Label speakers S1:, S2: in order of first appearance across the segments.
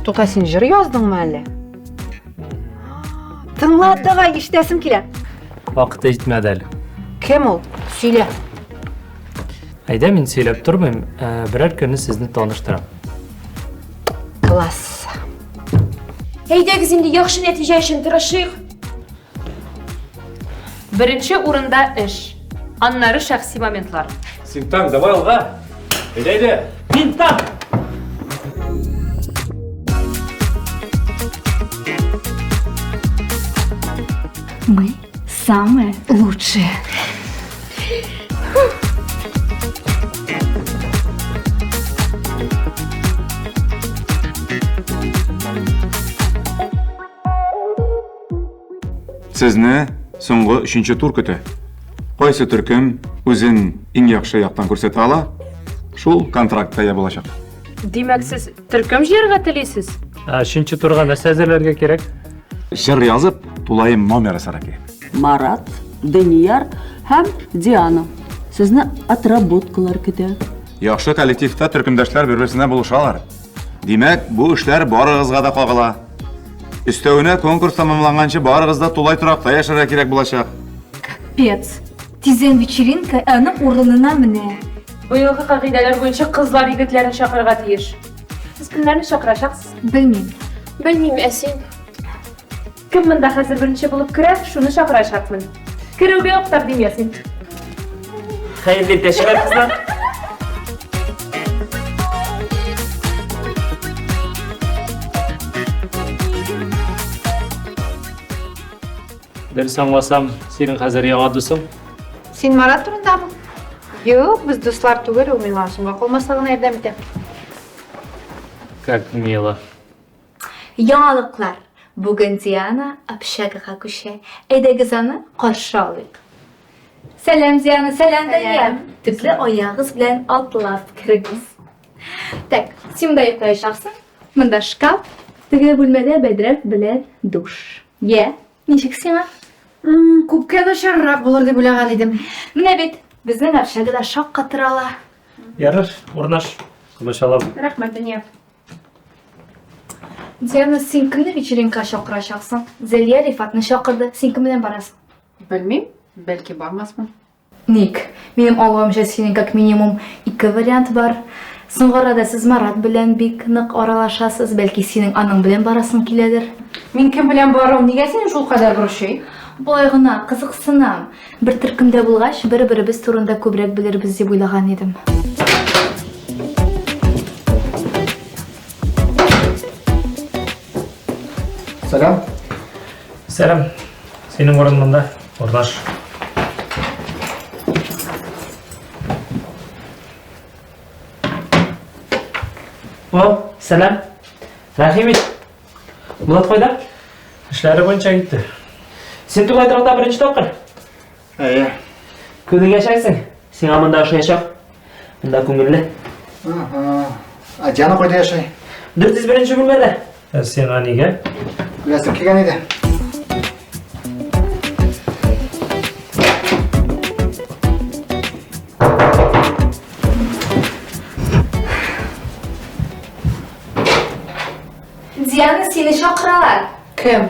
S1: Тота син җыр яздыңмы әле? Тыңлап тага ишетәсем килә. Вакыты җитмәде әле. Кем ул? Сөйлә. Әйдә мин сөйләп тормыйм, ә, берәр көнне сезне таныштырам. Класс. Әйдәгез инде яхшы нәтиҗә өчен тырышыйк. Беренче урында эш, аннары шәхси моментлар. Синтан, давай алга. Әйдә, әйдә. Синтан! Мы Самое лучшее. Сезне соңгы өченче тур көтә. Кайсы төркем үзен иң яхшы яктан күрсәтә ала, шул контрактка ия булачак. Димәк, сез төркем җыярга телисез? Ә, Өченче турга нәрсә әзерләргә кирәк? Җыр язып, тулаем номеры сара кирәк. Марат, Данияр һәм Диана. Сезне отработкалар көтә. Яхшы коллективта төркемдәшләр бер-берсенә булышалар. Димәк, бу эшләр барыгызга да кагыла. Өстәвенә конкурс тәмамланганчы барыгыз да тулай торакта яшәргә кирәк булачак. Пец. Тиздән вечеринка аның урынына менә. Быелгы кагыйдәләр буенча кызлар егетләрен чакырырга тиеш. Сез кемнәрне чакырачаксыз? Белмим. Белмим, ә син? Кем монда хәзер беренче булып керә, шуны чакырачакмын. Керүгә үк тәкъдим ясыйм. Хәерле дәшмә, кызлар! Дөрес аңласам, синең хәзер яңа дусың? Син Марат турындамы? Юк, без дуслар түгел, ул миңа соңга калмаслыгына ярдәм итә. Как мило. Яңалыклар. Бүген Диана общагага күчә. Әйдәгез аны каршы алыйк. Сәлам, Диана, сәлам, Дания. Төпле аягыз белән атлап керегез. Так, син монда йоклаячаксың. Монда шкаф. Теге бүлмәдә бәдрәф белән душ. Йә, ничек сиңа? Күпкә начаррак булыр дип уйлаган идем. Менә бит, безнең общага да шаккатыр ала. Ярыш, урнаш. Комачалап. Рәхмәт, дөнья. Диана, син кемне вечеринка чакырачаксың? Зәлия Рифатны чакырды. Син кем белән барасың? Белмим, бәлки бармасмын. Ник? Минем аңлавымча синең как минимум ике вариант бар. Соңгы арада сез Марат белән бик нык аралашасыз, бәлки синең аның белән барасың киләдер. Мин кем белән баруым нигә сине шул кадәр борчый? Болай гына, кызыксынам. Бер төркемдә булгач, бер-беребез турында күбрәк белербез дип уйлаган идем. Сәлам. Сәлам. Синең урын монда, урнаш. О, сәлам. Рәхим ит. Булат кайда? Эшләре буенча китте. Син тугай торакта беренче тапкыр? Әйе. Күнең яшәрсең. Сиңа монда ошаячак. Монда күңелле. Ә Диана кайда яши? 401 бүлмәдә. Ә сиңа нигә? Беләсең килгән иде. Диана, сине чакыралар. Кем?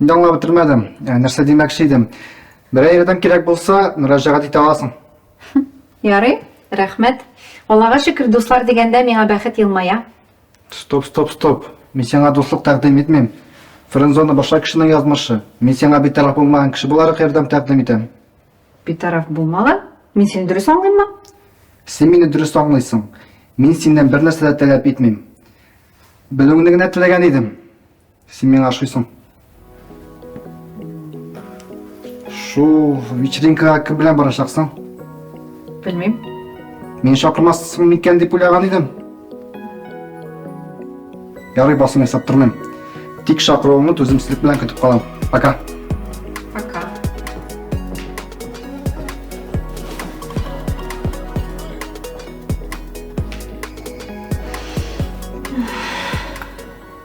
S1: Инде аңлап бетермәдем. Ә, нәрсә димәкче идем? Берәр ярдәм кирәк булса, мөрәҗәгать итә аласың. Ярый, рәхмәт. Аллага шөкер, дуслар дигәндә миңа бәхет елмая. Стоп, стоп, стоп. Мин сиңа дуслык тәкъдим итмим. Френдзона башка кешенең язмышы. Мин сиңа битараф булмаган кеше буларак ярдәм тәкъдим итәм. Битараф булмаган? Мин сине дөрес аңлыйммы? Син мине дөрес аңлыйсың. Мин синнән бер нәрсә дә таләп итмим. Белүеңне генә теләгән идем. Син миңа ашыйсың. Шул вечеринкага кем белән барачаксың? Белмим. Мин шакырмассың микән дип уйлаган идем. Ярый басым ясап тормыйм. Тик шакыруыңны түземсезлек белән көтеп калам. Пока. Пока.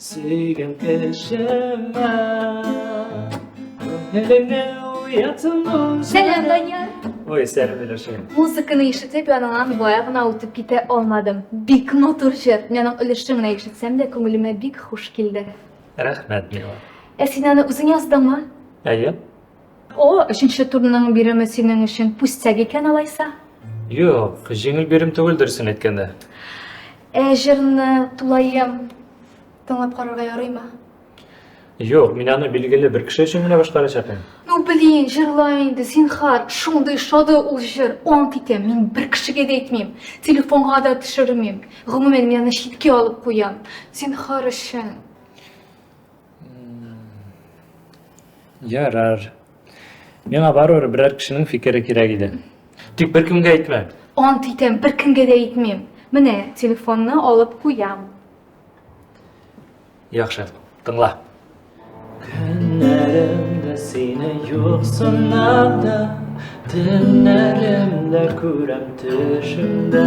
S1: Сөйгән кешемә Күңелеңне уятсам ул Сәлам, Данияр! Ой, сәлам, Миләшә. Музыканы ишетеп, яныңнан бая гына үтеп китә алмадым. Бик матур җыр. Мин аның өлешен генә ишетсәм дә, күңелемә бик хуш килде. Рәхмәт, Мила. Ә син аны үзең яздыңмы? Әйе. О, өченче турның биреме синең өчен пустяк икән алайса? Юк, җиңел бирем түгел дөресен әйткәндә. Ә җырны тулаем тыңлап карарга ярыймы? Юк, мин аны билгеле бер кеше өчен генә башкарачак идем. Ну, блин, җырла инде, зинхар, шундый шады ул җыр. Ант итәм, мин бер кешегә дә әйтмим, телефонга да төшермим. Гомумән, мин аны читкә алып куям. Зинхар өчен. Ярар. Миңа барыр берәр кешенең фикере кирәк иде. Тик беркемгә әйтмә. Ант итәм, беркемгә дә әйтмим. Менә телефонны алып куям. Яхшы, тыңла. Көннәремдә сине юк сынада, төннәремдә күрәм төшемдә.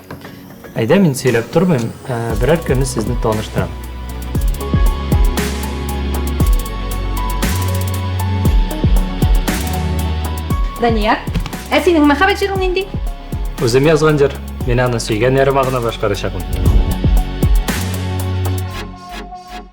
S1: Әйдә, мин сөйләп тормыйм, ә, берәр көнне сезне таныштырам. Данияр, ә синең мәхәббәт җырың нинди? Үзем язган җыр. Мин аны сөйгән ярыма гына башкарачакмын.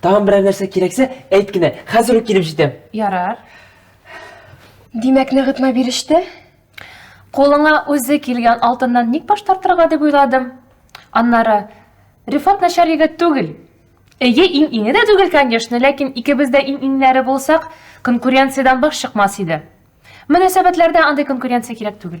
S1: Тагын берәр нәрсә кирәксә, әйт кенә, хәзер үк килеп җитәм. Ярар. Димәк, ныгытма биреште? Кулыңа үзе килгән алтыннан ник баш тартырга дип уйладым. Аннары, Рифат начар егет түгел. Эйе, иң-иңе дә түгел, конечно, ләкин икебез дә иң-иңнәре булсак, конкуренциядән баш чыкмас иде. Мөнәсәбәтләрдә андый конкуренция кирәк түгел.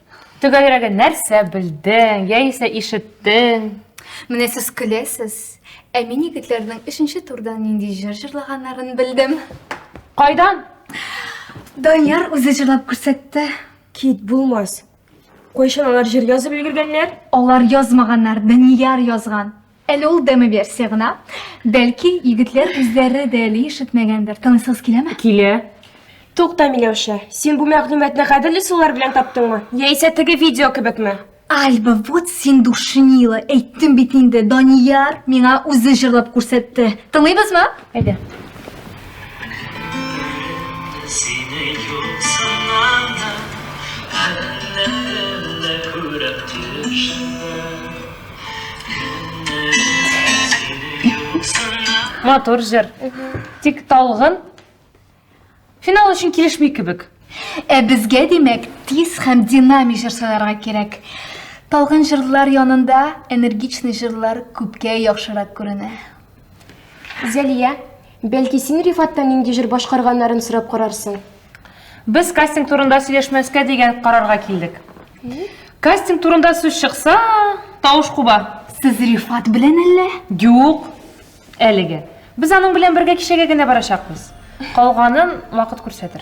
S1: Төгәлрәге нәрсә белдең, яисә ишеттең? Менә сез көләсез, ә мин егетләрнең өченче турда нинди җыр җырлаганнарын белдем. Кайдан? Данияр үзе җырлап күрсәтте. Кит, булмас. Кайчан алар җыр язып өлгергәннәр? Алар язмаганнар, Данияр язган. Әле ул демо-версия гына. Бәлки, егетләр үзләре дә әле ишетмәгәндер. Танысыгыз киләме? Килә. Тукта, Миләүшә, син бу мәгълүматны гадел ысуллар белән таптыңмы? Яисә теге видео кебекме? Альба, вот син душнила. Әйттем бит инде, Данияр миңа үзе җырлап күрсәтте. Тыңлыйбызмы? Әйдә. Сине юксыннан да, әллә күрәм төшендә. Матур җыр. Тик талгын финал өчен килешми кебек. Ә безгә, димәк, тиз һәм динамик җыр сайларга кирәк. Талгын җырлар янында энергичный җырлар күпкә яхшырак күренә. Зәлия, бәлки син Рифаттан нинди җыр башкарганнарын сорап карарсың? Без кастинг турында сөйләшмәскә дигән карарга килдек. Кастинг турында сүз чыкса, тавыш куба. Сез Рифат белән әллә? Юк. Әлегә. Без аның белән бергә кичәгә генә барачакбыз. Калганын вакыт күрсәтер.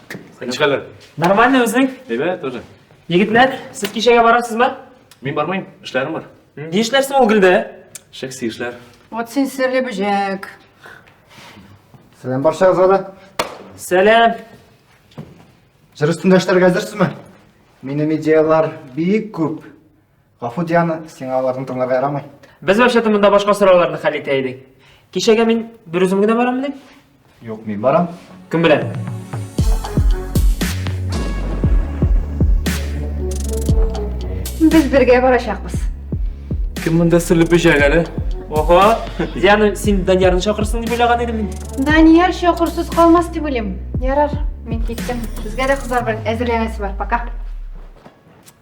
S1: Ничкәләр? Нормально үзең? Әйбәт тоже. Егетләр, сез кичәгә барасызмы? Мин бармыйм, эшләрем бар. Ни эшләрсең ул гөлдә? Шәхси эшләр. Вот син серле бөҗәк. Сәлам баршагызга да. Сәлам. Җыр өстендә эшләргә әзерсезме? Минем идеялар бик күп. Гафу, Диана, сиңа аларны тыңларга ярамый. Без вообще-то монда башка сорауларны хәл итә идек. Кичәгә мин бер үзем генә бараммыни? Юк, мин барам. Кем белән? Без бергә барачакбыз. Кем монда серле бөҗәк әле? Ого, Диана, син Даниярны чакырсың дип уйлаган идем мин. Данияр чокырсыз калмас дип уйлыйм. Ярар, мин киттем. Безгә дә кызлар белән әзерләнәсе бар. Пока.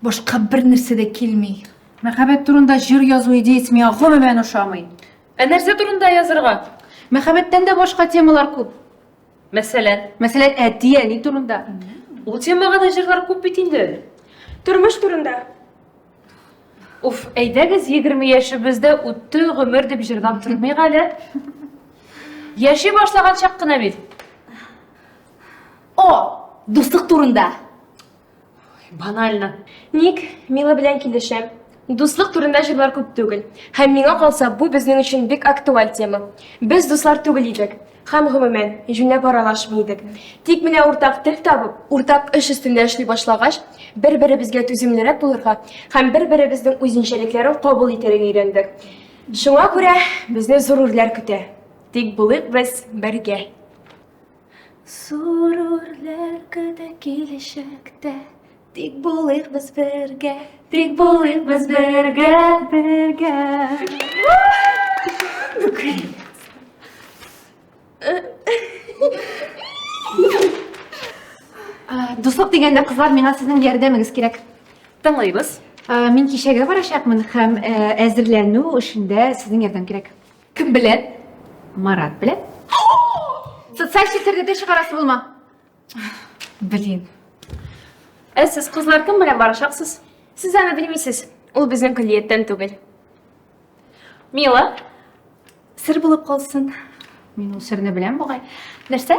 S1: Башка бер нәрсә дә килми. Мәхәббәт турында җыр язу идеясе миңа гомумән ошамый. Ә нәрсә турында язырга? Мәхәббәттән дә башка темалар күп. Мәсәлән? Мәсәлән, әти, әни турында. Ул темага да җырлар күп бит инде. Тормыш турында. Уф, әйдәгез, егерме яшебез дә үтте, гомер дип җырлап тормыйк әле. Яши башлаган чак кына бит. О, дуслык турында. Банально. Ник Мила белән килешәм? Дуслык турында җырлар күп түгел. Һәм миңа калса, бу безнең өчен бик актуаль тема. Без дуслар түгел идек. Һәм гомумән, җүнләп аралашмый идек. Тик менә уртак тел табып, уртак эш өстендә эшли башлагач, бер-беребезгә түземлерәк булырга һәм бер-беребезнең үзенчәлекләрен кабул итәргә өйрәндек. Шуңа күрә безне зур үрләр көтә. Тик булыйк без бергә. Зур үрләр көтә киләчәктә, тик булыйк без бергә, тик булыйк без бергә, бергә. Дуслык дигәндә, кызлар, миңа сезнең ярдәмегез кирәк. Тыңлыйбыз. Мин кичәгә барачакмын һәм әзерләнү эшендә сезнең ярдәм кирәк. Кем белән? Марат белән. Социаль челтәрдә дә чыгарасы булма. Блин. Ә сез кызлар кем белән барачаксыз? Сез аны белмисез. Ул безнең көллияттән түгел. Мила, сер булып калсын. Мин ул серне беләм бугай. Нәрсә?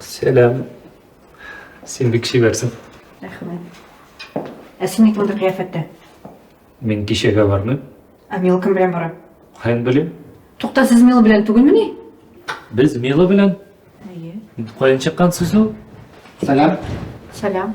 S1: Сәлам. Син бик чибәрсең. Рәхмәт. Ә син ник мондый кыяфәттә? Мин кичәгә бармыйм. Ә Мила кем белән бара? Хән белим. Тукта, сез Мила белән түгелмени? Без Мила белән? Әйе. Каян чыккан сүз ул? Сәлам. Сәлам.